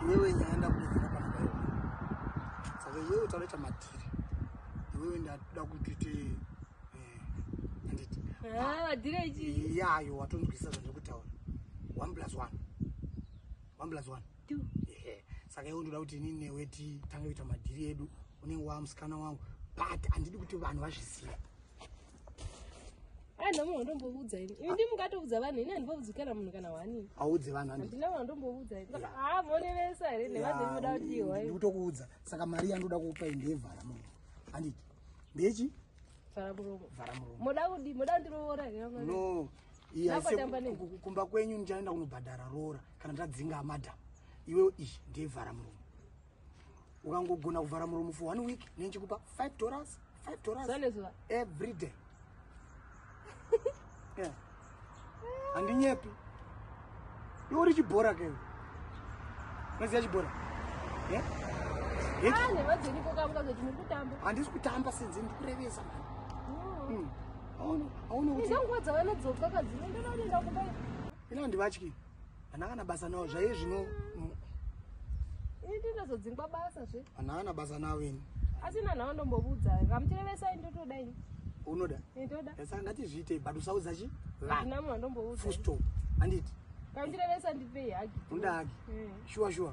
iwewe nyaya ndakutoziva kana daiwa saka iwewe tavaita madhiri iwewe ndada kutiti eh, anditi eh, yayo watonzwisisa zvandikutaura one plus one one plus one saka iwe ndoda kuti ini newe titange kuita madhiri edu unenge waamusikana wangu but handidi kuti vanhu vazviziva handina munhu wandomboudza ini ini ndi mungatoudza vanhu ini handimboudzi kana munhu kana wani audze vanhu handina munhu wandomboudza ini haa monevesa here nevanhu imoda kuti ihwa ndikutokuudza saka mari yandoda kukupa inde yevhara munhu handiti ndechi vhara muromo vhara muromo moda kudi moda kundiroora here no kumba kwenyu ndichaenda kunobhadhara roora kana ndadzinga madam iwe iyi ndeyevhara muromo ukangogona kuvhara muromo for one week nenchikupa five dollars five dollars every day handinyepi yeah. iwe uri chibhora kei unoziva chibhora handisi kutamba senze ndikurevesa aunokutiaunodzoka kadzinoendandakumba ina handivatyi Hana kana basa nawo zvaye zvino Ini ndazodzingwa basa zve. Hana kana basa nawo ini. Asina nawo ndombobudza. Ngamtirevesa indotoda ini. Unoda? Indoda. Sasa ndati zviite but usaudza chi? Vana. Ndinamu ndombobudza. Full stop. Anditi. Ngamtirevesa ndipei hagi. Unoda hagi? Eh. Sure sure.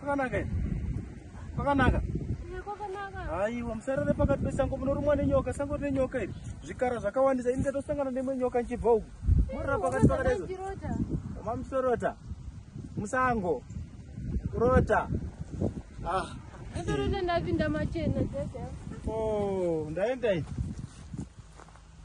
Kwakanaka here? Kwakanaka? Ehe, kwakanaka. Haiwa, musarare pakati pesango munorumwa nenyoka, sango rine nyoka iri. Zvikara zvakawandisa, ini ndatosangana neimwe nyoka ndichibva uku. Morara pakati pakati izvo. Ndachirota. Mamusorota. Musango. Kurota. Ah. Ndachirota ndapinda machena, dada. Oh, ndaenda ini.